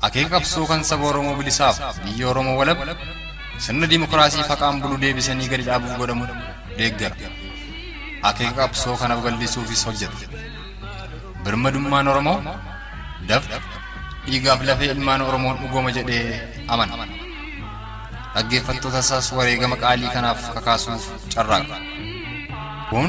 Akeeka qabsoo kan saba Oromoo bilisaaf biyya Oromoo walab sirna dimokiraasii faqaan bulu deebisanii gadi dhaabuuf godhamu deeggara. Akeeka qabsoo kana babal'isuufis hojjeta. Birmadummaan Oromoo dafqa dhiigaaf lafee ilmaan Oromoon dhugooma jedhee amana. Dhaggeeffattoota isaas wareegama qaalii kanaaf kakaasuuf carraaqa. Kun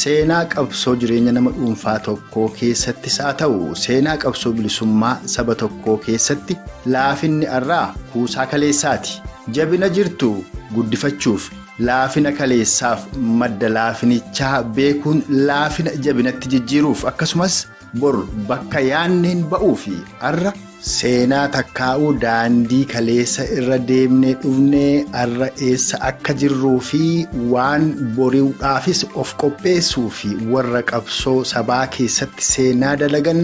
Seenaa qabsoo jireenya nama dhuunfaa tokkoo keessattis haa ta'u seenaa qabsoo bilisummaa saba tokkoo keessatti laafinni arraa kuusaa kaleessaati. Jabina jirtu guddifachuuf laafina kaleessaaf madda laafinichaa beekuun laafina jabinatti jijjiiruuf akkasumas Bor bakka yaanneen ba'uu fi arra seenaa takkaa'uu daandii kaleessa irra deemnee dhufnee arra eessa akka jirruu fi waan bori'uudhaafis of qopheessuu fi warra qabsoo sabaa keessatti seenaa dalagan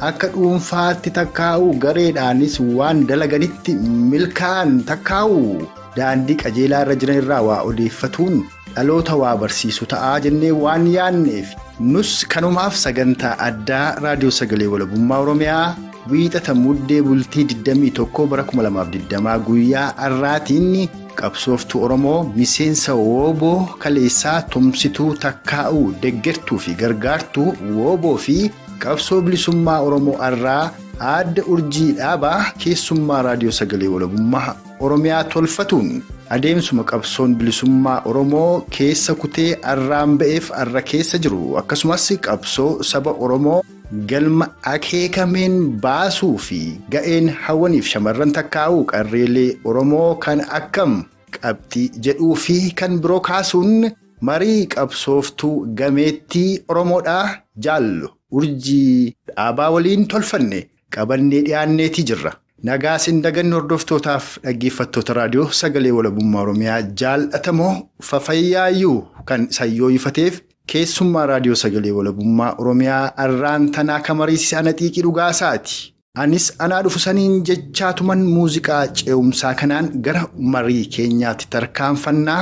akka dhuunfaatti takkaa'uu gareedhaanis waan dalaganitti milkaa'an takkaa'uu daandii qajeelaa irra jiran irraa waa odeeffatuun Dhaloota waa barsiisu ta'a jennee waan yaadneef nus kanumaaf sagantaa addaa raadiyoo sagalee walabummaa oromiyaa wiixata muddee bultii 21 bara 2020 guyyaa har'aatiin qabsooftuu oromoo miseensa wooboo kaleessaa tumsituu takkaa'uu deggertuu fi gargaartuu wooboo fi qabsoo bilisummaa oromoo har'aa aadde urjii dhaabaa keessummaa raadiyoo sagalee walabummaa Oromiyaa tolfatuun adeemsuma qabsoon bilisummaa Oromoo keessa kutee arraan ba'eef arra keessa jiru akkasumas qabsoo saba Oromoo galma akeekameen baasuu fi ga'een hawwaniif shamarran takkaa'uu qarreelee Oromoo kan akkam qabxii jedhuu fi kan biroo kaasuun marii qabsooftuu gameettii Oromoodhaa jaallu urjii dhaabaa waliin tolfanne qabannee dhiyaanneetii jirra. Nagaa sin daganne hordoftootaaf dhaggeeffattoota raadiyoo sagalee walabummaa Oromiyaa jaal'atamoo fafayyaayyuu kan isa yooyifateef keessummaa raadiyoo sagalee walabummaa Oromiyaa arraan tanaa ka mariisise ana xiiqii dhugaa isaati. Anis anaa dhufu saniin jechaatuman muuziqaa ce'umsaa kanaan gara marii keenyaatti tarkaanfannaa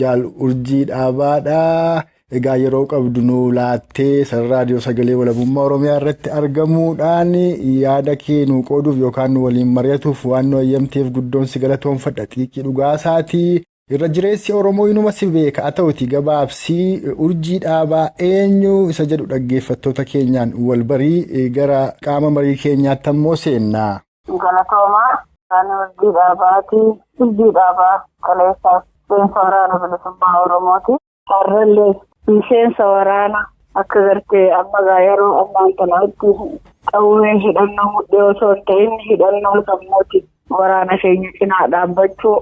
Jaal Urjii Dhaabaadha. Egaa yeroo qabdu nu laattee sarara raadiyoo sagalee walabummaa Oromiyaa irratti argamuudhaan yaada kee nu qooduuf yookaan nu waliin mari'atuuf waan nu eeyyamteef guddoon si galatoomfadha xiiqii dhugaasaati. Irra jireessi Oromoo inuma si beeka haa ta'uti gabaabsii urjii dhaabaa eenyu isa jedhu dhaggeeffattoota keenyaan wal barii gara qaama marii keenyaatti ammoo seenna. Galatoomaa ani urjii dhaabaati. Urjii dhaabaa kaleessaas miseensa waraana bilisummaa Oromooti. Harrallee miseensa waraana akka gartee amma gaa yeroo ammaan tanaatti qawwee hidhannoo mudhii osoo hin ta'in hidhannoo sammuuti waraana keenya cinaa dhaabbachuu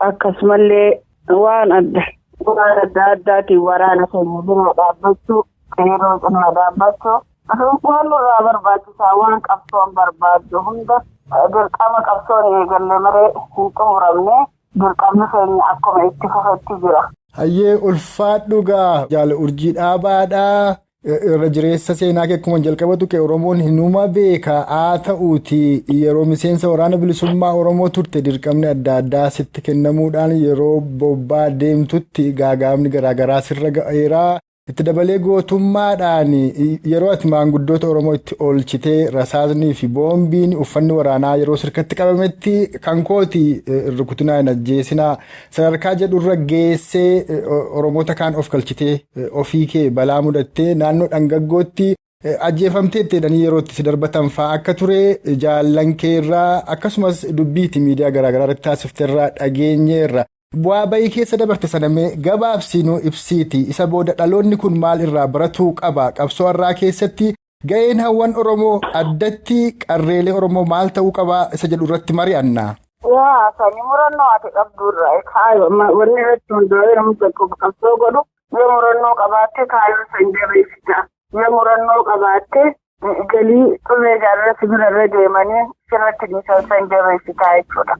akkasumallee waan adda waan adda addaatiin waraana keenya cinaa dhaabbachuu qeerroo cinaa dhaabbachuu Aduun waan nurraa barbaachisaa waan qabsoon barbaaddu hunda dirqama qabsoon eegalle malee hin xumuramne dirqamni keenya akkuma itti fufetti jira. Hayyee ulfaadhu gaa jaal urjii dhaabaadha irra jireessa seenaa kee akkuma jalqaba tuqe oromoon hinuma beeka haa ta'uuti yeroo miseensa waraana bilisummaa oromoo turte dirqamni adda addaa sitti kennamuudhaan yeroo bobbaa deemtutti gaagaamni garaagaraa sirra ga'eera Itti dabalee gootummaadhaan yeroo ati maanguddoota Oromoo itti oolchitee rasaasnii fi boombiin uffanni waraanaa yeroo sirkatti qabametti kan kooti rukutinaa hin ajjeesinaa sadarkaa jedhurra geessee Oromoota kaan of galchitee ofii kee balaa mudattee naannoo dhangaggootti Ajjeefamteetti jedhanii yeroo itti si darbatan fa'aa akka ture jaallan kee irraa akkasumas dubbii itti miidiyaa garaagaraa irratti taasifte irraa dhageenye irra. Bu'aa bayii keessa dabarte sana mee gabaabsii nuu ibsiiti isa booda dhaloonni kun maal irraa baratuu qaba qabsoo har'aa keessatti ga'een hawwan Oromoo addatti qarreelee Oromoo maal ta'uu qaba isa jedhu irratti mari'anna. Yaa sanii murannoo ati qabdu irraa kaayoo wanni irratti hundaa'ee namni tokko qabsoo godhu Yoo murannoo qabaatte kaayoo san jabeessita. Yoo murannoo qabaatte galii xulee jaalala sibira irra deemanii sirratti dhiisan san jabeessita jechuudha.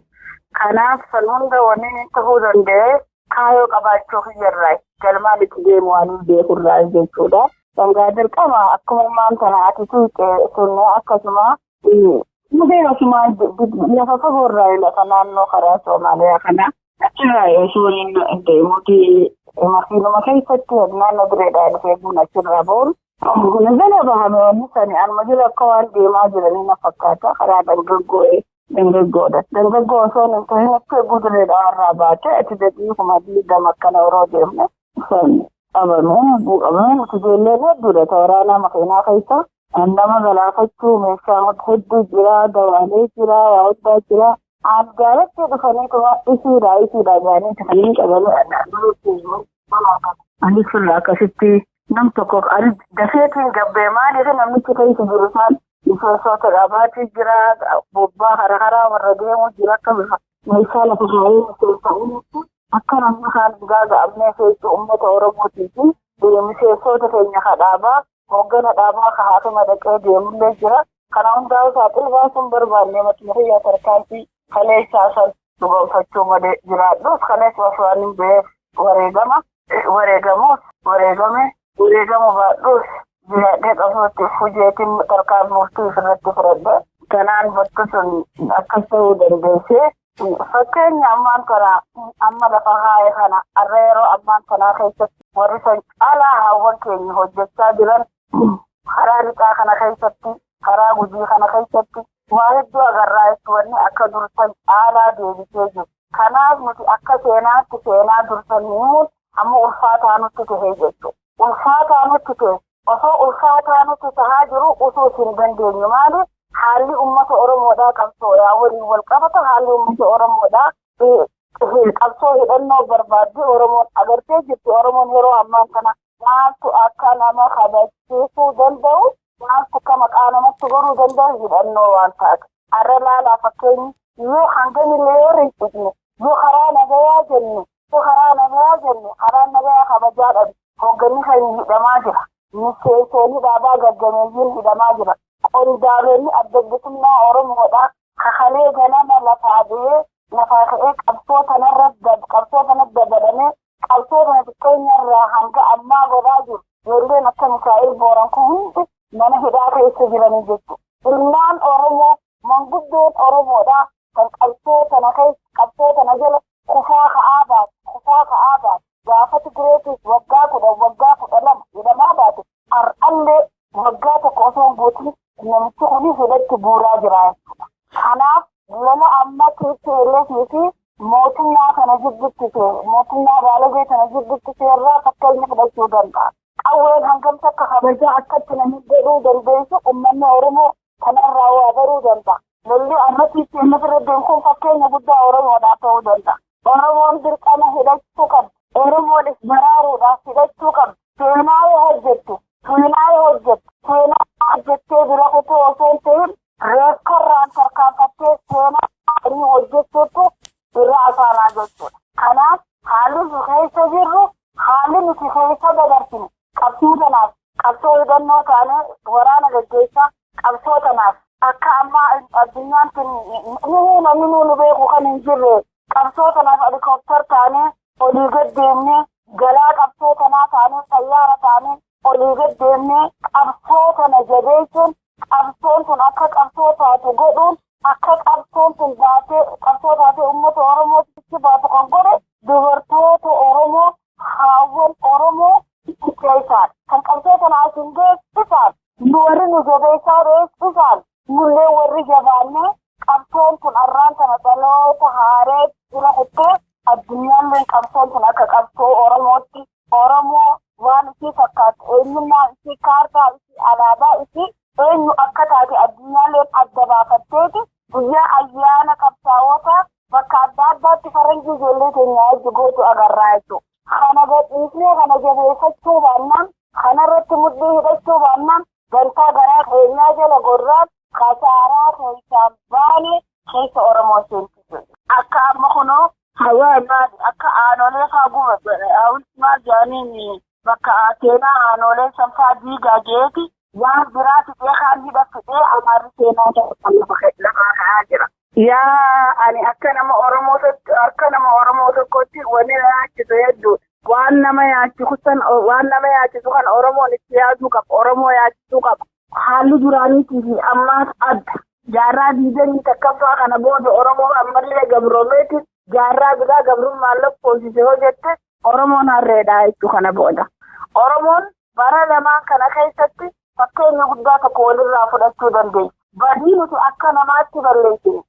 Kanaaf san hunda wanni inni ta'uu danda'e kaayoo qabaachuu kiyyarraa galmaan itti deemu waan hin beekurraa jechuudha. Sangaa dirqama akkuma ammaan tana ati tuuqe sun akkasuma Mudee asumaa lafa fagoo irraa lafa naannoo karaa Soomaaliyaa kana achirraa osoo inni deemuuti makiinuma keessatti naannoo bireedhaa dhufee buna achirraa boonu. Buna jala bahame wanni sani anuma jala akka waan deemaa jiranii na fakkaata karaa dargaggoo'ee dargaggoodha. Dargaggoo osoo hin tahin akka eeguu bireedhaa irraa baatee ati dadhii kuma diidama akkana yeroo deemne sani. qabamee buqqamee nuti ijoolleen hedduudha ta waraanaa makiinaa keessa Kan nama galaafachuu meeshaa hedduu jira, dawaalee jira, waa hundaa jira. Algaaratti dhufanii tuma isiidha isiidha jedhanii kanneen qabanii adda Ani sirraa akkasitti nam tokko ani dafeetiin gabbee maaliif namichi keessa jiru isaan miseensota dhabaatii jira bobbaa hara haraa warra deemuu jira akka bifa meeshaa lafa kaayee miseensa uumutti akka namni kaan gaaga'amnee keessu uummata Oromootii fi miseensota keenya kadhaabaa hooggana dhaabaa ka haatuma dhaqee deemullee jira. Kana hundaa'uu saaxil baasuu hin barbaanne matuma kiyyaa tarkaanfii kaleessaa san dhugoomfachuu malee jiraadhus kaleessa osoo ani hin beef wareegama wareegamuus wareegame wareegamu baadhuus jiraadhee qabsootti fujeetiin tarkaan murtii ofirratti fudhadhe kanaan bakka sun akkas ta'uu dandeessee Fakkeenya ammaan tana amma lafa kaa'e kana har'a yeroo ammaan tanaa keessatti warri san caalaa haawwan keenya hojjechaa jiran karaa lixaa kana keessatti karaa gujii kana keessatti waa hedduu agarraa jechuun wanni akka dursan caalaa deebisee jiru. Kanaaf nuti akka seenaatti seenaa dursan himuun amma ulfaataa nutti tahee jechuudha. ulfaataa nutti ta'e osoo ulfaataa nutti tahaa jiru utuu isin dandeenyu maali haalli ummata oromoodhaa qabsoodhaa waliin wal qabata haalli ummata oromoodhaa qabsoo hidhannoo barbaaddi oromoon agartee jirti oromoon yeroo ammaa kana maaltu akka nama kabachiisuu danda'u maaltu akka maqaa namatti godhuu danda'u hidhannoo waan taate har'a laalaa fakkeenyi yoo hangami leeyoor hin dhiqne yoo karaa nagayaa jenne Yoo karaa nagayaa jenne karaan nagayaa kabajaa dhabe. Hoogganni keenya hidhamaa jira. Miseensoonni dhaabaa gaggameeyyiin hidhamaa jiran. Qondaalonni Adda Bilisummaa Oromoodhaa ka kalee ganama lafaa ba'ee lafaa ka'ee qabsoo tanarra qabsoo tanatti dabalamee qabsoo tana xiqqeenyarraa hanga ammaa godhaa jiru. Ijoolleen akka Mikaa'el Booran kun hundi mana hidhaa keessa jiranii jechuudha. Ilmaan Oromoo manguddoon Oromoodhaa kan qabsoo tana keessa qabsoo tana jala kufaa ka'aa baate kufaa ka'aa baate gaafa Tigireetiif waggaa kudhan waggaa kudha lama jedhamaa baate har'allee waggaa tokko osoo hin guutin namichi kuni hidhatti buuraa jira jechuudha. Kanaaf lola amma TPLF fi mootummaa kana jidduutti seera mootummaa baalagee kana jidduutti seerraa fakkeenya fudhachuu danda'a. Qawween hangamsa akka kabajaa akkatti namni godhuu dandeessu uummanni Oromoo Kana irraa waa baruu danda'a. Lolli amma tplf irra deemu kun fakkeenya guddaa Oromoodhaaf ta'uu danda'a. Oromoon dirqama hidhachuu qabdi. Oromoon if baraaruudhaaf hidhachuu qabdi. Seenaa yoo hojjettu, seenaa yoo hojjettu, seenaa hojjettee bira kutuu osoo hin ta'in reekkarraan tarkaanfattee seenaa gaarii hojjechuutu irra asaanaa jechuudha. Kanaaf haalli nu keessa jirru haalli nuti keessa dabarsine Qabsoo tanaaf qabsoo hubannoo taanee waraana gaggeessaa qabsoo tanaaf akka ammaa addunyaan tun nuhuu namni nuu nu beeku kan hin jirre qabsoo tanaaf alikooptar taanee olii gad deemnee galaa qabsoo tanaa taanee xayyaara taanee olii gad deemnee qabsoo tana jabeessuun qabsoon tun akka qabsoo taatu godhuun akka qabsoon tun baatee qabsoo taatee uummata Oromootti baatu kan godhe dubartoota Oromoo Haawwan Oromoo itti keessaan kan qabsoo sana as hin geessisaan nu warri nu jabeessaa beeksisaan nullee warri jabaannee qabsoon kun arraan kana dhaloota haaree jira kuttee addunyaalleen qabsoon kun akka qabsoo Oromootti Oromoo waan isii fakkaatu eenyummaa isii kaartaa isii alaabaa isii eenyu akka taate addunyaalleen adda baafatteeti Guyyaa ayyaana qabsaa'oota bakka adda addaatti faranjii ijoollee keenya wajji gootu agarraa jechuudha. Kana gadhiisnee kana jabeeffachuu baannaan, kanarratti mudhii hidhachuu baannaan dantaa garaa keenyaa jala gorraa kasaaraa keessaan baane keessa Oromoo seentii jirra. Akka amma kunoo hawaa maali akka aanolee faa gubate hawulti maal jedhaniin bakka seenaa aanoolee sanfaa diigaa geeti waan biraa fidee kaan hidha fidee amaarri seenaa ta'an lafaa ka'aa jira. Yaa ani akka nama Oromoo tokko akka nama Oromoo tokkotti wanni na yaachisu hedduu waan nama yaachisu san waan nama yaachisu kan Oromoon itti yaaduu qaba Oromoo yaachisuu qaba. Haalli duraaniitii fi ammaas adda. Jaarraa diidanii takkaffaa kana booda Oromoo ammallee gabroomeetiin jaarraa biraa gabrummaan lakkoofsise hoo jette Oromoon harreedha jechuu kana booda. Oromoon bara lamaan kana keessatti fakkeenya guddaa tokko walirraa fudhachuu dandeenya. Badii nuti akka namaatti balleessine,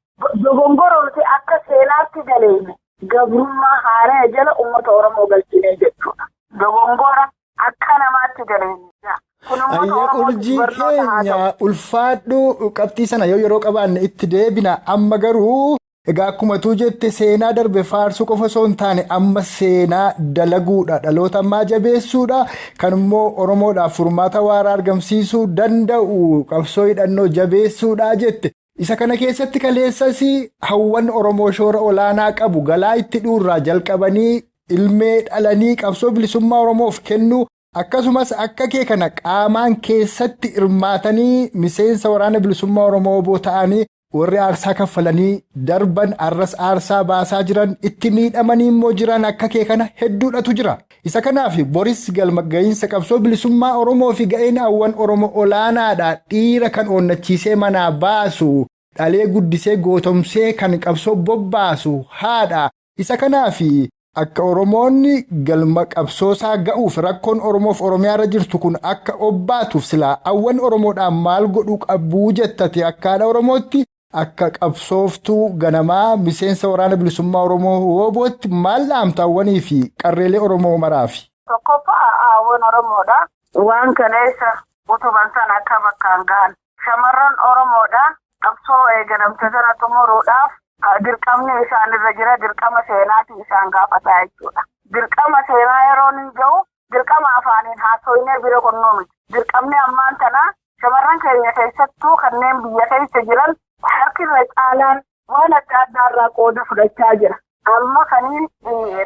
dogongora nuti akka seenaatti daleeyne gabrummaa haaraya jala uummata Oromoo galchinee jechuudha. Dogongora akka namaatti daleeyne. Ayya urjii keenya ulfaadhu qabxii sana yoo yeroo qabaanne itti deebina amma garuu. Egaa akkuma tuu jette seenaa darbe faarsuu qofa osoo hin taane amma seenaa dalaguudha dhaloota ammaa jabeessuudha kan immoo oromoodhaaf furmaata waaraa argamsiisuu danda'u qabsoo hidhannoo jabeessuudha jette isa kana keessatti kaleessas hawwan oromoo shoora olaanaa qabu galaa itti dhuurraa jalqabanii ilmee dhalanii qabsoo bilisummaa oromoof kennuu akkasumas akka kee kana qaamaan keessatti hirmaatanii miseensa waraana bilisummaa oromoo oboo ta'anii. Warri aarsaa kaffalanii darban arras aarsaa baasaa jiran itti miidhamanii immoo jiran akka kee kana hedduudhatu jira. Isa kanaaf boris galma ga'iinsa qabsoo bilisummaa Oromoo fi ga'een hawwan Oromo olaanaadha dhiira kan oonnachiisee manaa baasu dhalee guddisee gootomsee kan qabsoo bobbaasu haadha Isa kanaafi akka Oromoon galma qabsoosaa ga'uuf rakkoon Oromoof Oromiyaarra jirtu kun akka obbaatuuf silaa awwan Oromoodhaan maal godhuu qabu jetta ati akka haadha Oromootti, akka qabsooftuu ganamaa miseensa Waraana Bilisummaa Oromoo WBOtti maal dhaamta awwaniifi qarreelee Oromoo maraafi? Tokkoffaa, awwan Oromoodhaaf waan kaleessa utuban sana akka bakkaan gahan Shamarran Oromoodha. Qabsoo eegalamte sana xumuruudhaaf dirqamni isaan irra jira. Dirqama seenaati isaan gaafataa jechuudha. Dirqama seenaa yeroo ni ga'u dirqama afaaniin haasoynee bira kunnuu miti. Dirqamni ammaan tana shamarran keenya keessattuu kanneen biyya keessa jiran harki irra caalaan waan adda addaa irraa qooda fudhachaa jira. Amma kaniin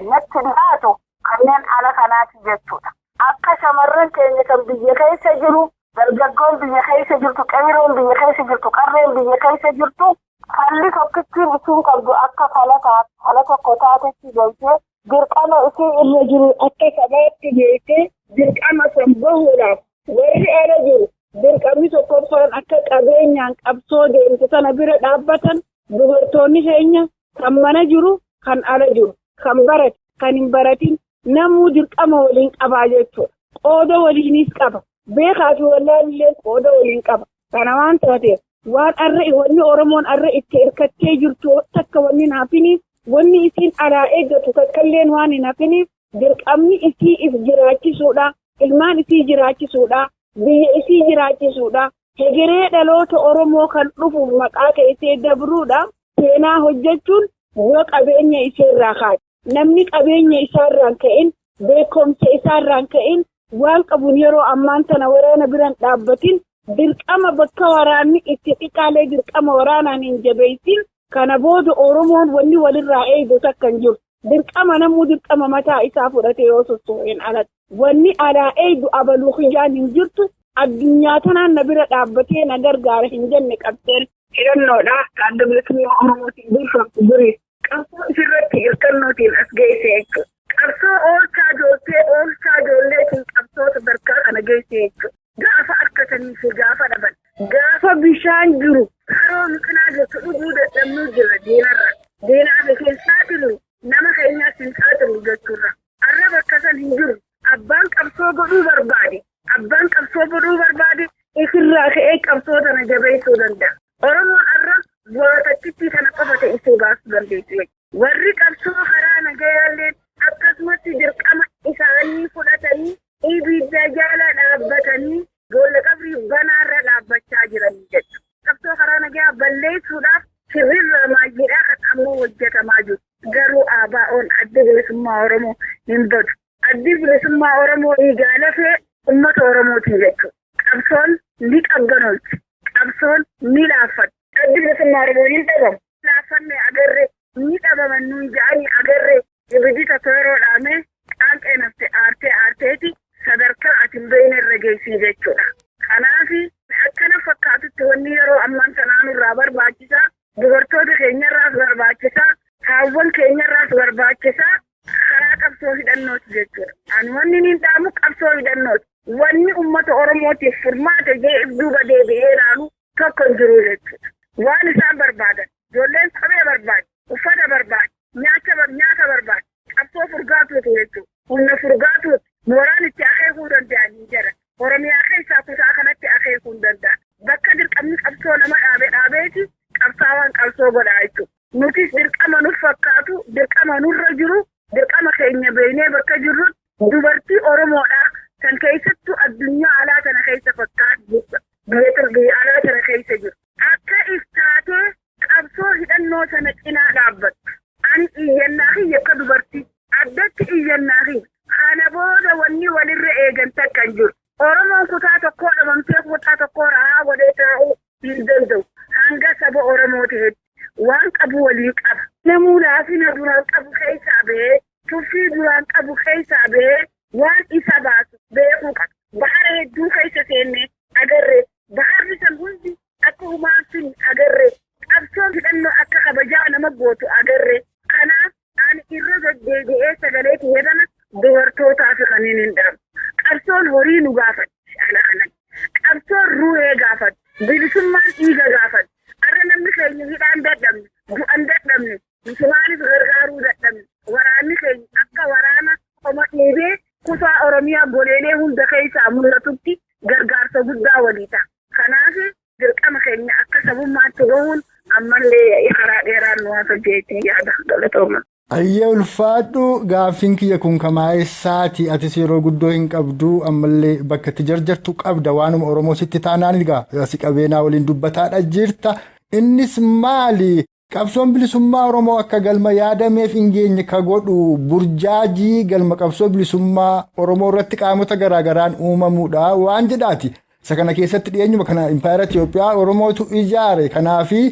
natti dhiyaatu kanneen ala kanaati jechuudha. Akka shamarran keenya kan biyya keessa jiru, dargaggoon biyya keessa jirtu, qeeyroon biyya keessa jirtu, qarreen biyya keessa jirtu falli tokkittiin isiin qabdu akka fala tokko taatetti galtee dirqama isii irra jiru akka sabaatti beektee dirqama san bahuudhaaf warri ala jiru dirqamni tokkoffaan akka qabeenyaan qabsoo deemtu tana bira dhaabbatan dubartoonni keenya kan mana jiru kan ala jiru kan barate kan hin baratin namuu dirqama waliin qabaa jechuudha. Qooda waliinis qaba. Beekaa fi wallaalillee qooda waliin qaba. Kana waan taateef waan arra wanni Oromoon arra itti hirkattee jirtu takka wanni hin hafiniif wanni isiin alaa eeggatu takkalleen waan hin hafiniif dirqamni isii if jiraachisuudha. Ilmaan isii jiraachisuudha. Biyya isii jiraachisuudha. Hegeree dhaloota Oromoo kan dhufuuf maqaa keessee dabruudha. Seenaa hojjechuun yoo qabeenya isheerraa kaate. Namni qabeenya isaarraan ka'een beekumsa isaarraan ka'een waan qabuun yeroo ammaan tana waraana biraan dhaabbatiin dirqama bakka waraanni itti xiqqaalee dirqama waraanaan hin jabeessin kana booda Oromoon wanni walirraa eegu takka hin jiru. Dirqama namuu dirqama mataa isaa fudhatee yoo socho'een alatti. Wanni alaa eegu abaluu kiyyaan hin jirtu addunyaa tanaan na bira dhaabbatee na gargaara hin jenne qabdeen. Hidhannoodha adda bilisummaa Oromootiin durfamtu durii Qabsoo isirratti irkannootiin as geesse jechuudha. Qabsoo oolchaa jooltee oolchaa joolleetiin qabsoo sadarkaa kana geesse jechuudha. Gaafa harkatanii fi gaafa dhaban. Gaafa bishaan jiru haroo mucinaa jirtu dhuguu dadhabnuu jira diinarra. Diinaa fi hin saaxilu nama keenyaas hin saaxilu jechuurra. Arra bakka san hin jiru. Abbaan qabsoo godhuu barbaade Abbaan qabsoo godhuu barbaade isirraa ka'ee qabsoo tana jabeessuu danda'a. Oromoon har'a bu'aa takkittii tana qofa ta'isee baasuu dandeessu. Warri qabsoo karaa nagayaallee akkasumatti dirqama isaanii fudhatanii ibidda jala dhaabbatanii boolla qabrii banaarra dhaabbachaa jiran jechuudha. Qabsoo karaa nagaa balleessuudhaaf shirrirraa maayyiidhaa kan ammoo hojjetamaa jiru. Garuu ABO'n adda bilisummaa Oromoo hin badu. Addi Bilisummaa Oromoo dhiigaa lafee ummata Oromootii jechuun qabsoon ni qabbanoolti. Qabsoon ni laaffatti. Addi Bilisummaa Oromoo hin dhabamu. Laaffannee agarre ni dhabaman nuun ja'anii agarre. Ibiddi tokko yeroo dhaamee qaanqeen hafte aartee aarteeti sadarkaa ati hin beeyne irra geessii jechuudha. Kanaaf akkana fakkaatutti wanni yeroo ammaan tanaa nurraa barbaachisaa Dubartoota keenyarraas barbaachisa. Haawwan keenyarraas barbaachisa. Karaa qabsoo hidhannooti jechuudha. Ani wanni niin dhaamu qabsoo hidhannooti. Wanni uummata Oromootiif furmaata jedhee duuba deebi'ee ilaalu tokko hin jiru jechuudha. Waan isaan barbaadan ijoolleen kophee barbaaddi, uffata barbaaddi, nyaata barbaaddi. Qabsoo furgaatuutu jechuudha. Humna furgaatuuti. Mooraan itti akeekuu danda'an hin jiran. Oromiyaa keessaa kutaa kanatti akeekuu hin danda'an. Bakka dirqamni qabsoo nama dhaabe dhaabeeti qabsaawaan qabsoo godhaa jechuudha. Nutis dirqama nuf fakkaatu, dirqama nurra jiru, dirqama keenya beeknee bakka jirrutti Dubartii Oromoodhaa kan keessattuu addunyaa alaa tana keessa fakkaattu biyya biyya alaa tana keessa jiru. Akka if taatee qabsoo hidhannoo sana cinaa dhaabbattu. Ani iyyannaa kiyya akka dubartii addatti iyyannaa kiyya. Kana booda wanni walirra eegan takka hin jiru. Oromoon kutaa tokkoo dhabamtee kutaa tokkoo rahaa godhee taa'uu hin danda'u. Hanga saba Oromoo ta'etti waan qabu waliin qaba. Namuu laafina duraan qabu keessaa bahee, tuffii duraan qabu keessaa bahee waan isa baasu beekuu qaba. Bahara hedduu keessa seennee agarre. Baharri san hundi akka humaan sun agarre. Qabsoon hidhannoo akka kabajaa nama gootu agarre. Kanaaf Ani irra deddeebi'ee sagalee kiyya kana dubartootaa fi kanneen hin dhaabu. Qabsoon horii nu gaafatti ala kanan. Qabsoon ruhee gaafatti. Bilisummaan dhiiga gaafatti. Arra namni keenya hidhaan dadhabne, du'an dadhabne, misumaanis gargaaruu dadhabne. Waraanni keenya akka waraana qoma dheebee kutaa Oromiyaa goleelee hunda keessaa mul'atutti gargaarsa guddaa walii ta'a. Kanaaf Dirqama keenya akka sabummaatti bahuun ammallee karaa dheeraan nu hafa jeetiin yaada galatooma. Ayyee ulfaadhu gaaffiin kiyya kun kamaa'eessaati atis yeroo guddoo hin qabdu ammallee bakka itti jarjartu qabda waanuma Oromoo sitti taanaan egaa si qabeenaa waliin dubbataadha jirta innis maali Qabsoon bilisummaa Oromoo akka galma yaadameef hin geenye ka godhu burjaajii galma qabsoo bilisummaa Oromoo irratti qaamota garaa garaan uumamuudha waan jedhaati. Isa kana keessatti dhiyeenyuma kana Impaayera Itoophiyaa Oromootu ijaare. Kanaafi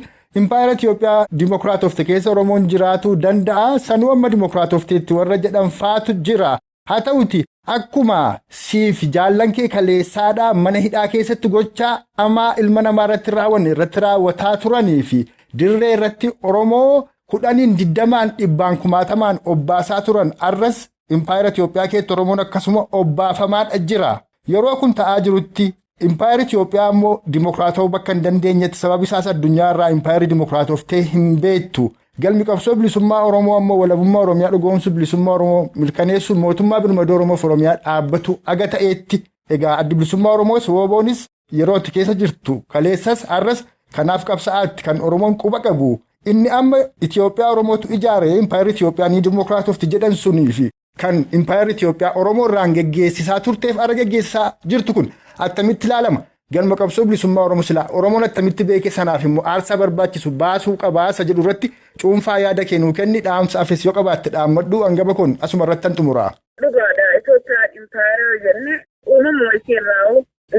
Impaayera Itoophiyaa dimokiraatofte keessa Oromoon jiraatuu danda'a. Sanuu amma dimokiraatofteetti warra jedhan faatu jira. Haa ta'uti akkuma siif jaallan kee kaleessaadhaa mana hidhaa keessatti gochaa amaa ilma namaa irratti raawwanne irratti raawwataa turanii fi dirree irratti Oromoo kudhaniin digdamaan dhibbaan kumaatamaan obbaasaa turan arras impaayera Itoophiyaa keessatti Oromoon akkasuma obbaafamaadha jira. Yeroo kun ta'aa jirutti Impaayerri Itoophiyaa immoo dimokiraatawuu bakka hin dandeenyetti sababi isaas addunyaa irraa impaayerri dimokiraatoftee hin beektu. Galmi qabsoo bilisummaa Oromoo ammoo walabummaa Oromiyaa dhugoomsuu bilisummaa Oromoo mirkaneessuu mootummaa birmadoo Oromoof Oromiyaa dhaabbatu aga ta'eetti egaa addi bilisummaa Oromoos wooboonis yeroo itti keessa jirtu kaleessas har'as kanaaf qabsa'aatti kan Oromoon quba qabu inni amma Itoophiyaa Oromootu ijaare impaayerri Itoophiyaa ni dimokiraatofti jedhan suniifi kan impaayarri Itoophiyaa Oromoo irraan geggeessisaa turteef ara geggeessisaa jirtu kun attamitti ilaalama? Galma qabsoo bilisummaa Oromoo silaa Oromoon attamitti beeke sanaaf immoo aarsaa barbaachisu baasuu qabaa isa jedhu irratti cuunfaa yaada kee nuu kenni dhaamsa afes yoo qabaatte dhaammadhu angaba kun asuma irrattan xumuraa. Dhugaadha Itoophiyaan impaayara yoo jenne uumamuma isheerraa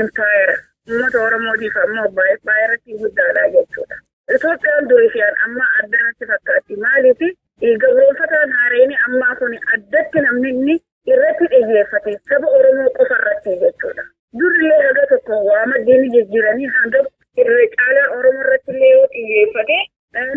impaayara uummata Oromootiif ammoo impaayara guddaadha jechuudha. Itoophiyaan durii fi an ammaa adda natti fakkaatti. Maaliif? Gabroonfataan haarayni ammaa kun addatti namni inni irratti dhiyyeeffate saba Oromoo qofa irratti jechuudha. Durillee haga tokko waa maddii ni jijjiiranii hanga irra caalaa Oromoo irratti illee yoo xiyyeeffate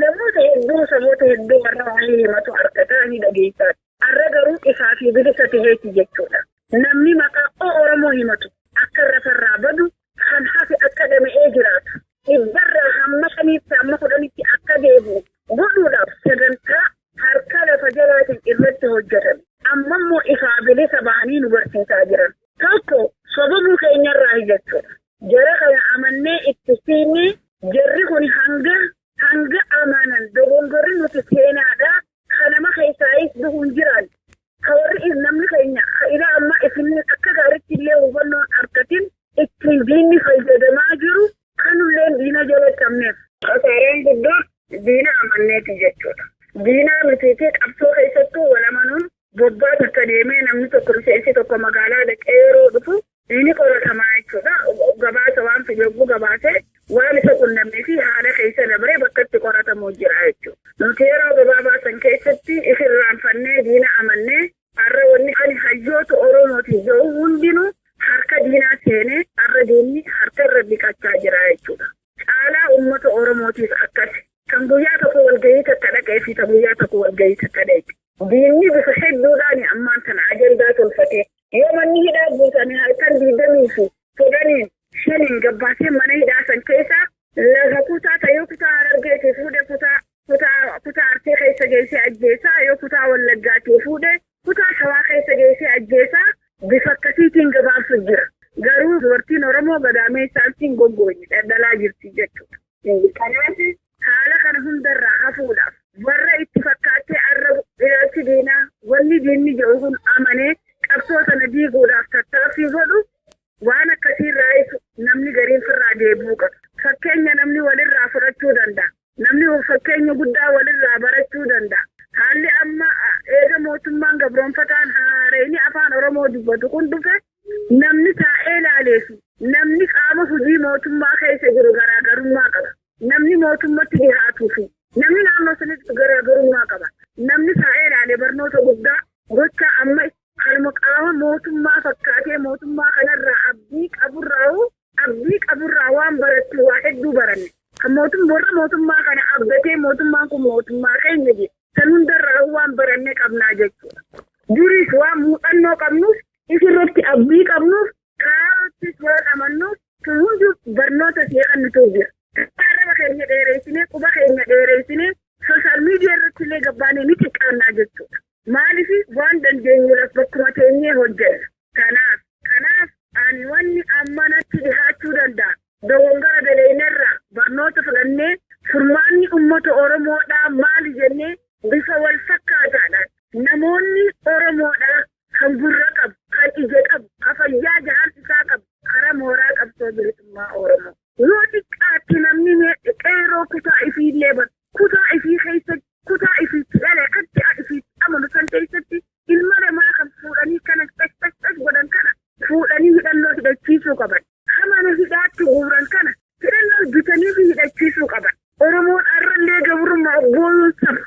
namoota hedduu saboota hedduu warra walii himatu argata ni dhageessaati. Arra garuu ifaa fi bilisa taheeti jechuudha. Namni maqaa o-Oromoo himatu akka rafarraa badu, kan hafe akka dhama'ee jiraatu, dhibbarraa hamma shaniitti hamma kudhanitti akka deebi'u godhuudhaaf sagantaa harka lafa jalaatiin irratti hojjatame ammammoo ifaa bilisa bahanii nu barsiisaa jiran. Tokko sobamuu keenyarraahi jechuudha. Jara kana amannee itti siinne jarri kuni hanga hanga amanan dogongorri nuti seenaadha ka nama keessaayis du'u hin jiraan ka warri namni keenya ka ilaa ammaa isin akka gaaritti illee hubannoon argatin ittiin diinni fayyadamaa jiru kanulleen diina jala cabneef kasaaraan guddoon diina amanneeti jechuudha. Diinaa mitiitii qabsoo keessattuu wal amanuun Waggaa takka deemee namni tokko miseensi tokko magaalaa dhaqee yeroo dhufu ni qoratama jechuudha. Gabaasa waan fide yogguu gabaase waan isa qunnamee fi haala keessa dabree bakka itti qoratamu jira jechuudha. Nuti yeroo gabaabaa san keessatti if irraanfannee diina amannee har'a wanni ani hayyoota Oromootiin jedhu hundinuu harka diinaa seenee har'a diinni harka irra dhiqachaa jira jechuudha. Caalaa ummata Oromootiif akkasi. Kan guyyaa tokko walgahii takka dhaqee fi ta guyyaa tokko walgahii takka dhaqe. Diinni bifa hedduudhaan ammaan tana ajandaa tolfatee yoo manni hidhaa guutame halkan digdamii fi kudhaniin shaniin gabbaasee mana hidhaa san keessaa lafa kutaa ta yoo kutaa harargeetii fuudhe kutaa Kutaa kutaa Arsii keessa geessee ajjeesaa, yoo kutaa Wallaggaatii fuudhe kutaa Shawaa keessa geessee ajjeesaa bifa akkasiitiin gabaabsu jira. Garuu dubartiin Oromoo gadaameessa Arsiin goggooti dhadhalaa jirti jechuudha. Kanaaf haala kana hundarraa hafuudhaaf warra itti fakkaattee arrabu ilaalchi diinaa wanni diinni jedhu kun amanee qabsoo sana diiguudhaaf tattaaffii godhu Waan akkasii irraayis namni gariin firraa deebi'uu qaba. Fakkeenya namni walirraa fudhachuu danda'a. Namni fakkeenya guddaa walirraa barachuu danda'a. Haalli amma eega mootummaan gabroonfataan haarayni afaan Oromoo dubbatu kun dhufe namni taa'ee laalee fi namni qaama hojii mootummaa keessa jiru garaagarummaa qaba. Namni mootummatti dhihaatuu fi namni naannoo sanitti garaagarummaa qaba. Namni taa'ee laalee barnoota guddaa gocha amma Kanuma qaama mootummaa fakkaatee mootummaa kanarraa abdii qaburraahu abdii qaburraa waan barattu waa hedduu baranne. Kan mootum warra mootummaa kana abdatee mootummaan kun mootummaa keenya jedhe san hundarraahu waan baranne qabnaa jechuudha. Duris waan muuxannoo qabnuuf isirratti abdii qabnuuf kaayoottis waan amannuuf sun hundi barnoota si'a kan nu ta'u jira. Arraba keenya dheereessinee quba keenya dheereessinee sooshaal miidiyaa irratti illee gabbaanee ni xiqqaannaa jechuudha. Maaliif waan dandeenyuuraf bakkuma teenyee hojjenna. Kanaaf. Kanaaf ani wanni amma natti dhihaachuu danda'a dogongora daleeynerraa barnoota fudhannee furmaanni ummata Oromoodhaa maali jennee bifa walfakkaataadhaan namoonni Oromoodhaa kan gurra qabu, kan ija qabu, ka fayyaa jahaan isaa qabu kara mooraa qabsoo bilisummaa Oromoo yoo xiqqaatte namni mee qeerroo kutaa ifiillee bar Kutaa ifii keessatti, kutaa ifi itti dhale, adda ifi itti amanu san keessatti ilma namaa kan fuudhanii kana caccaccas godhan kana fuudhanii hidhannoo hidhachiisuu qaban. Ka mana hidhaatti guuran kana hidhannoo bitaniifi hidhachiisuu qaban. Oromoon arrallee gabrummaa of booyuun saba.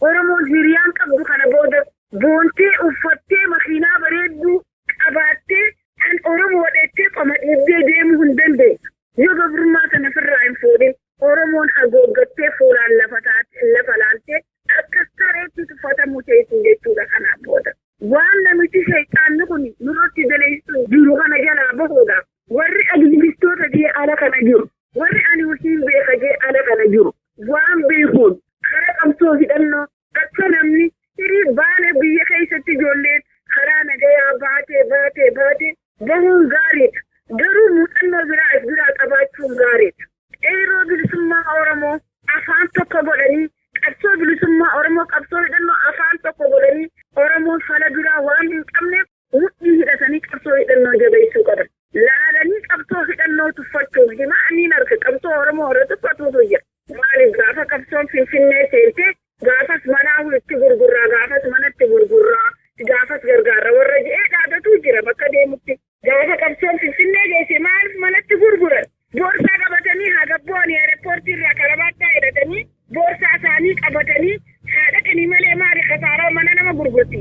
Oromoon hiriyaan qabdu kana booda boontee, uffattee, makiinaa bareedduu qabaattee an Oromoodha jettee qoma dhiibdee deemuu hin dandeessu. Yoo gabrummaa sana ofirraa hin fuudhin. Oromoon hagooggattee fuulaan lafa taate, lafa laaltee akka sareetti tuffatamuu teessi jechuudha kanaan booda. Waan namichi sheyxaanni kun nurratti daleessu jiru kana jalaa bahuudhaaf warri aktivistoota jee ala kana jiru, warri ani husiin beeka jee ala kana jiru waan beekuun karaa qabsoo hidhannoo Akka namni hirii baane biyya keessatti ijoolleen karaa nagayaa baatee baatee baatee bahuun gaariidha. Garuu muuxannoo biraa as biraa qabaachuun gaariidha. Qeerroo bilisummaa Oromoo afaan tokko godhanii qabsoo bilisummaa Oromoo qabsoo hidhannoo afaan tokko godhanii Oromoon fala biraa waan hin qabneef Mudhii hidhatanii qabsoo hidhannoo jabeessuu qaban. Laalanii qabsoo hidhannoo tuffachuun himaa anniin harka qabsoo Oromoo irra tuffatuutu jira. Maaliif gaafa qabsoon Finfinnee seentee gaafas manaa itti gurgurraa, gaafas manatti gurgurraa, gaafas gargaarra warra je'ee dhaadatuu jira bakka deemutti. Gaafa qabsoon Finfinnee geesse maaliif manatti gurguran? Boorsaa qabatanii haa gabbooni aerepoortii irraa karabaattaa hidhatanii boorsaa isaanii qabatanii haa dhaqanii malee maali kasaaraa mana nama gurgurti.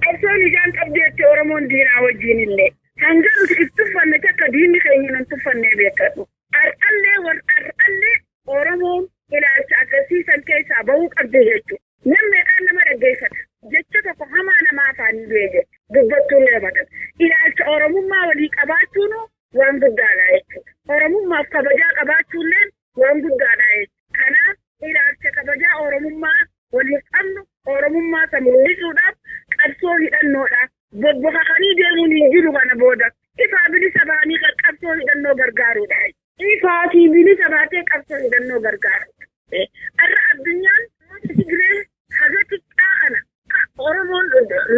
Qabsoon ijaan qabdeetti Oromoon diinaa wajjin illee. Hanga nuti if tuffanne takka diinni keenya nun tuffannee beekadhu. Ar'allee war ar'allee Oromoon ilaalcha agarsiisan keessaa bahuu qabdi jechuudha. Namni meeqaan nama dhaggeeffata. Jecha tokko hamaa namaa afaanii du'e jedhu dubbattuun leebatan. Ilaalcha Oromummaa walii qabaachuun waan guddaadha jechuudha. Oromummaaf kabajaa qabaachuulleen waan guddaadha jechuudha. Kanaaf ilaalcha kabajaa Oromummaa waliif qabnu Oromummaa isa mul'isuudhaaf qabsoo hidhannoodha. Bobbokakanii deemuun hin jiru kana booda. Ifaa bilisa bahanii kan qabsoo hidhannoo gargaaruudha. Ifaa fi bilisa baatee qabsoo hidhannoo gargaaruudha. Har'a addunyaan uummata Tigree Haga xiqqaa kana ka Oromoon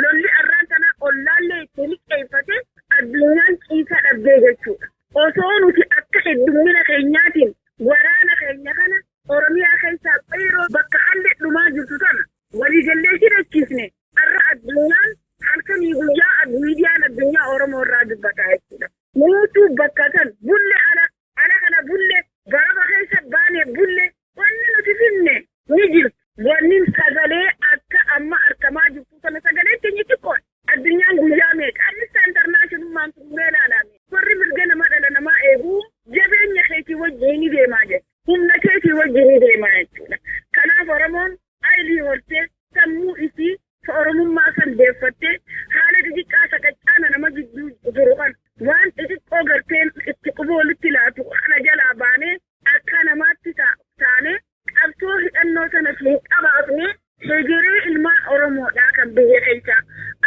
lolli arraan tanaa ollaallee itti liqeeffatee addunyaan ciisaa dhabdee jechuudha. Osoo nuti akka heddummina keenyaatiin waraana keenya kana Oromiyaa keessaa qeeroo bakka hallee dhumaa jirtu tana waliigallee hidhachiisne arra addunyaan halkanii guyyaa miidiyaan addunyaa Oromoo irraa dubbataa jechuudha. Nuutu bakka san bulle ala Ala kana bulle, garaba keessa baane bulle, wanni nuti finne ni jirti. Wannin sagalee akka amma argamaa jirtu sana sagalee keenya xiqqoodha. Addunyaan guyyaa meeqa Amnesty International maan tummee ilaalame. Warri mirga namaa dhala namaa eegu jabeenya keetii wajjin ni deemaa jedha. Humna keetii wajjin ni deemaa jechuudha. Kanaaf Oromoon aylii hortee sammuu isii Ka Oromummaa san deeffattee haala xixiqqaa sakattaana nama gidduu jiru kana waan xixiqqoo garteen itti quba walitti laatu kana jalaa baanee akka namaatti taanee qabsoo hidhannoo tana hin qabaafne hegeree ilmaan Oromoodhaa kan biyya keessaa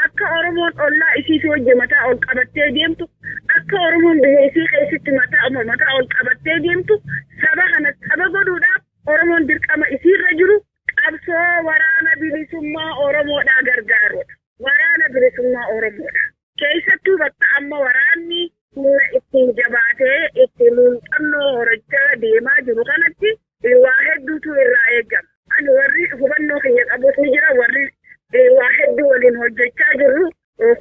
akka Oromoon ollaa isiitii wajji mataa ol qabattee deemtu akka Oromoon biyya isii keessatti mataa mataa ol qabattee deemtu saba kana saba godhuudhaaf Oromoon dirqama isiirra jiru qabsoo waraana bilisummaa Oromoodhaa gargaaruudha. Waraana bilisummaa Oromoodha. Keessattuu bakka amma waraanni humna ittiin jabaatee itti muuxannoo horachaa deemaa jiru kanatti waa hedduutu irraa eegama. Ani warri hubannoo kiyya qabus ni jira warri waa hedduu waliin hojjechaa jirru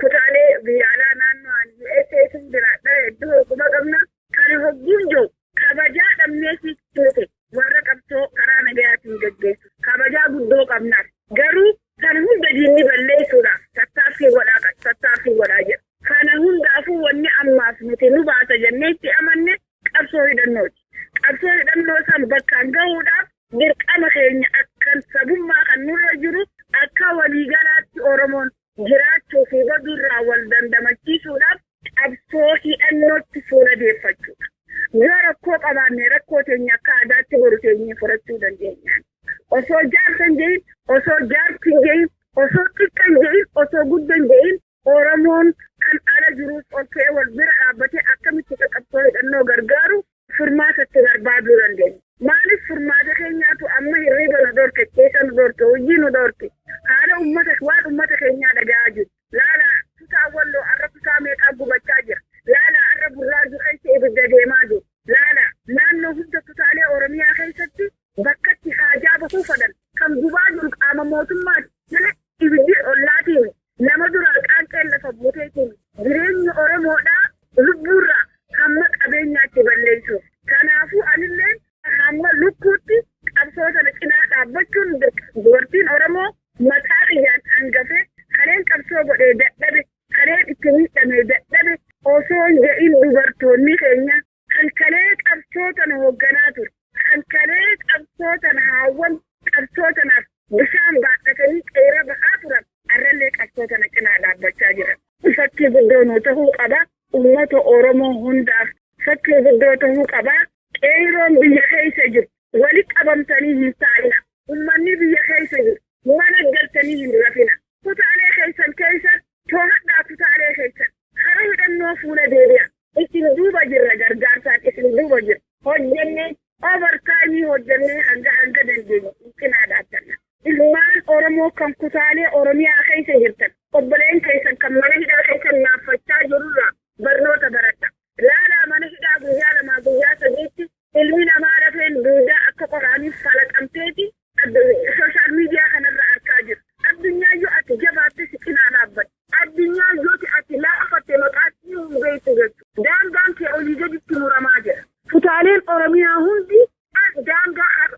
Kutaalee biyya alaa naannoo ani USA keessa jiraadha hedduu hogguma qabna. Kana hogguun jiru kabajaa dhabnee fi tuute warra qabsoo karaa nagayaatiin gaggeessu kabajaa guddoo qabnaaf. Garuu kana hunda diinni balleessuudhaaf tattaaffii godhaa kan tattaaffii godhaa jira. Kana hundaafuu wanni ammaaf nuti nu baasa jennee itti amanne qabsoo hidhannooti. Qabsoo hidhannoo san bakkaan gahuudhaaf dirqama keenya akkan sabummaa kan nurra jiru akka waliigalaatti Oromoon jiraachuu fi baduu irraa wal dandamachiisuudhaaf qabsoo hidhannootti fuula deeffachuudha. Yoo rakkoo qabaanne rakkoo teenya akka aadaatti boru teenyee furachuu dandeenya. Osoo jaarsa hin jedhin, osoo jaarsi hin jedhin, osoo xiqqa hin jedhin, osoo gudda hin jedhin Oromoon kan ala jirus ol ka'ee wal bira dhaabbatee akkamitti akka qabsoo hidhannoo gargaaru furmaata itti barbaaduu dandeenya. Maaliif furmaata keenyaatu amma hirriba nu dhorke, keessa nu dhorke, hojii nu dhorke, haala ummata waan ummata keenyaa dhaga'aa jiru. Laala kutaa walloo har'a kutaa meeqaa gubachaa jira. Laala har'a burraajuu keessa ibidda deemaa jiru. Laala naannoo hunda kutaalee Oromiyaa keessatti bakka itti haajaa bahuu fadhan kan gubaa jiru qaama mootummaati malee ibiddi ollaatiin nama duraa qaanqeen lafa buutee kun jireenya Oromoodhaa lubbuurraa hamma qabeenyaatti balleessuuf. Kanaafuu anillee hamma lukkuutti qabsoo sana cinaa dhaabbachuun dirqama. Dubartiin Oromoo maqaa kiyyaan hangafee kaneen qabsoo godhee dadhabe, kaneen itti miidhamee dadhabe osoo hin jedhin dubartoonni keenya Kan kalee qabsoo tana hoogganaa ture. Kan kalee qabsoo tana haawwan qabsoo tanaaf bishaan baadhatanii qeeyra bahaa turan arrallee qabsoo tana cinaa dhaabbachaa jiran. Kun fakkii guddoo nuu tahuu qaba. Ummata Oromoo hundaaf fakkii guddoo tahuu qaba. Qeeyroon biyya keessa jiru wali qabamtanii hin taa'ina. Ummanni biyya keessa jiru mana galtanii hin rafina. Kutaalee keessan keessa toohadhaa kutaalee keessan. Hara hidhannoo fuula deebi'a. Isin duuba jirra gargaarsaan isin duuba jirra. Hojjenne over time hojjenne hanga hanga dandeenye cinaa dhaabbanna. Ilmaan Oromoo kan kutaalee Oromiyaa keessa jirtan obboleen keessan kan mana hidhaa keessa naaffachaa jirurraa barnoota baradha. Laalaa mana hidhaa guyyaa lamaa guyyaa sadiitti Ilmi namaa lafeen duudaa akka qoraaniif falaxamteeti adda social media kanarra arkaa jirta. Addunyaa yoo ati jabaatte si cinaa dhaabbadha. Addunyaa yooti ati laafatte maqaa sii hin beektu jechu. Daangaan kee olii gaditti muramaa jira. Kutaaleen Oromiyaa hundi daangaa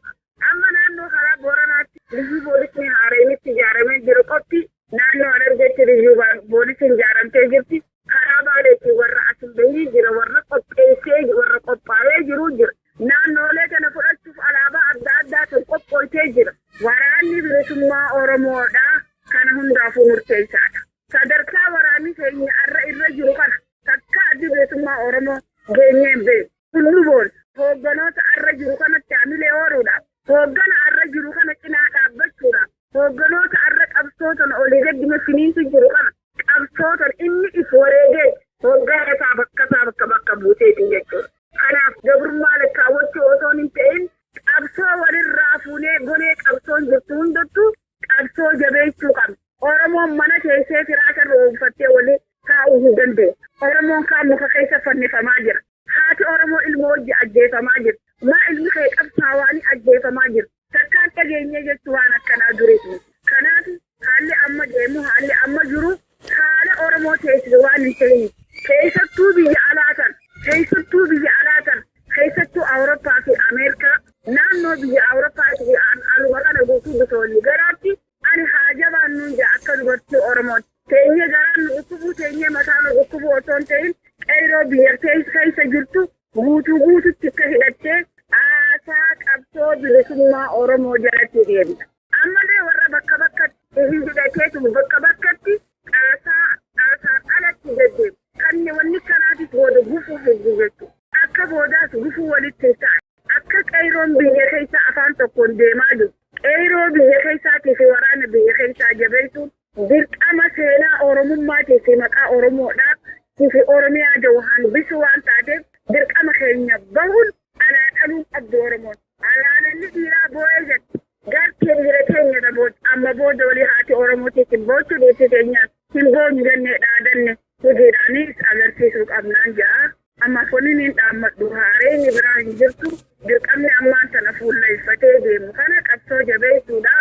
Amma naannoo karaa Booranaatti liyyuu poolisni haaraynitti ijaaramee jiru qofti naannoo Harargeetti liyyuu poolisiin ijaaramtee jirti. Karaa Baaleetti warra as hin bahinii jira, warra qopheessee warra qophaa'ee jiru jira. Naannoolee kana fudhachuuf alaabaa adda addaa kan qophooytee jira. Waraanni bilisummaa Oromoodhaa kana hundaafuu murteessaadha. Sadarkaa waraanni keenya har'a irra jiru kana takkaa addi bilisummaa Oromoo geenyee hin beeku. Nuboon hoogganoota arra jiru kanatti hamilee horuudhaaf, hooggana arra jiru kana cinaa dhaabbachuudhaaf, hoogganoota arra qabsootan olii gaddina finiinsu jiru kana qabsootan inni if wareegee hooggana isaa bakka isaa bakka bakka buuseetiin jechuudha. Kanaaf gabrummaa lakkaawwachuu osoo hin ta'in qabsoo walirraa fuunee gonee qabsoon jirtu hundattuu Qabsoo jabeessuu qabna. Oromoon mana teessee firaasha irra oonfattee waliin taa'uu hin dandeenye. Oromoon kaan muka keessa fannifamaa jira. Haati Oromoo ilmoo wajji ajjeefamaa jirti. Maa ilmi kee qabsaawaanii ajjeefamaa jiru. Takkaan dhageenyee jechuu waan akkanaa duris miti. Kanaaf haalli amma deemu haalli amma jiru Saala Oromoo teessise waan hin ta'iniif keessattuu biyya alaa tan keessattuu biyya alaa tan keessattuu Awurooppaa fi Ameerikaa naannoo biyya Awurooppaa fi aluma kana guutuu bitoonni garaatti ani haa jabaannuun jaa akka dubartii Oromoon teenyee garaan nu dhukkubuu teenyee mataa nu dhukkubuu osoo hin ta'in qeyroo biyya keessa jirtu Guutuu guututti akka hidhattee haasaa qabsoo bilisummaa Oromoo jalatti deemta. Ammallee warra bakka bakkatti hidhateetu bakka bakkatti haasaa haasaan alatti deddeema. Kanni wanni kanaatis booda gufuu fiddi jechuudha. Akka boodaas gufuu walitti hin ta'an. Akka qeeyroon biyya keessaa afaan tokkoon deemaa jiru. Qeeyroo biyya keessaatii fi waraana biyya keessaa jabeessuun Dirqama seenaa Oromummaatii fi maqaa Oromoodhaa tii fi Oromiyaa jahu hambisuu waan taateef dirqama keenya bahuun alaa dhaluu qabdu Oromoon. Alaa dhalli dhiiraa booyee jette. Gartee dhiira keenya irra boote. Amma booda walii haati Oromoo tiisin boochuu dhiirti keenya hin boonyu jennee dhaadanne hojiidhaanis agarsiisuu qabnaan ja'a. A. Makoniniin dhaammadhu haareyni biraa hin jirtu. Dirqamni ammaan tana fuulleyfatee deemu kana qabsoo jabeysuudha.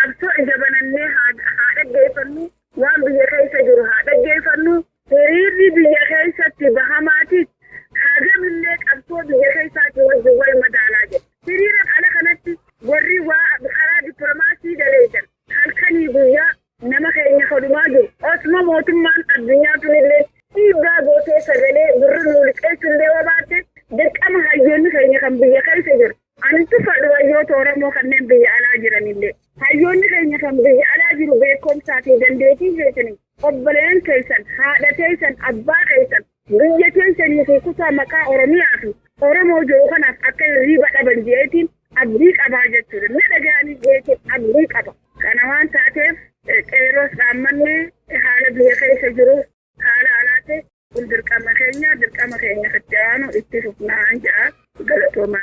Qabsoo ija banannee haa dhaggeyfannu. Waan biyya keysa jiru haa dhaggeyfannu. Hiriirri biyya keysatti bahamaatis hagamillee qabsoo biyya keysaatii wajjin wal madaalaa jedha. Hiriira ala kanatti warri waa karaa diplomaasii daleydan halkanii guyyaa Nama keenya ka dhumaa jiru. Osuma mootummaan addunyaa tunilleen dhiibbaa gootee sagalee gurra nuu liqeessullee yoo baatte dirqama hayyoonni keenya kan biyya keessa jiru. Ani tuffadhu hayyoota Oromoo kanneen biyya alaa jiranillee. Hayyoonni keenya kan biyya alaa jiru beekumsaa fi dandeetii keessaniin obboleeyyan keessan, haadha teessan, abbaa keessan, Biyya teessanii fi kutaa maqaa Oromiyaa fi Oromoo jedhu kanaaf akka hirriiba dhaban jeetiin abdii qabaa jechuudha. Na dhaga'anii jeetiin abdii qaba. Kana waan taateef qeerroos dhaammanni haala biyya keessa jiru haala alaatti kun dirqama keenya dirqama keenya itti aanu itti fufnaan jedha. Galatooma.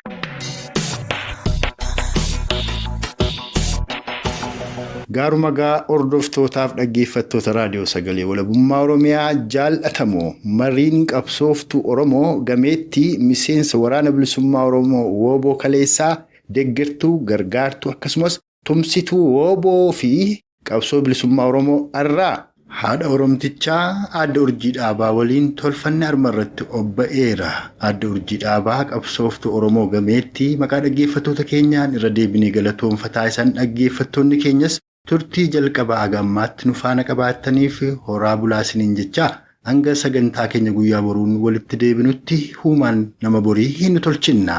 Gaaruma gaa hordoftootaaf dhaggeeffattoota raadiyoo sagalee walabummaa Oromiyaa jaallatamoo mariin qabsooftuu Oromoo gameettii miseensa waraana bilisummaa Oromoo wooboo kaleessaa deggertuu gargaartuu akkasumas Tumsituu wbo fi Qabsoo Bilisummaa Oromoo arraa. Haadha Oromtichaa Aadde Urjii Dhaabaa waliin tolfanni arma irratti obba'eera. Aadde Urjii Dhaabaa qabsooftuu Oromoo gameettii maqaa dhaggeeffattoota keenyaan irra deebinee galatoomfataa isan dhaggeeffattoonni keenyas turtii jalqabaa haga ammaatti nu faana qabaattaniif horaa bulaa isiniin jechaa hanga sagantaa keenya guyyaa boruun walitti deebinutti huumaan nama borii hin tolchinna.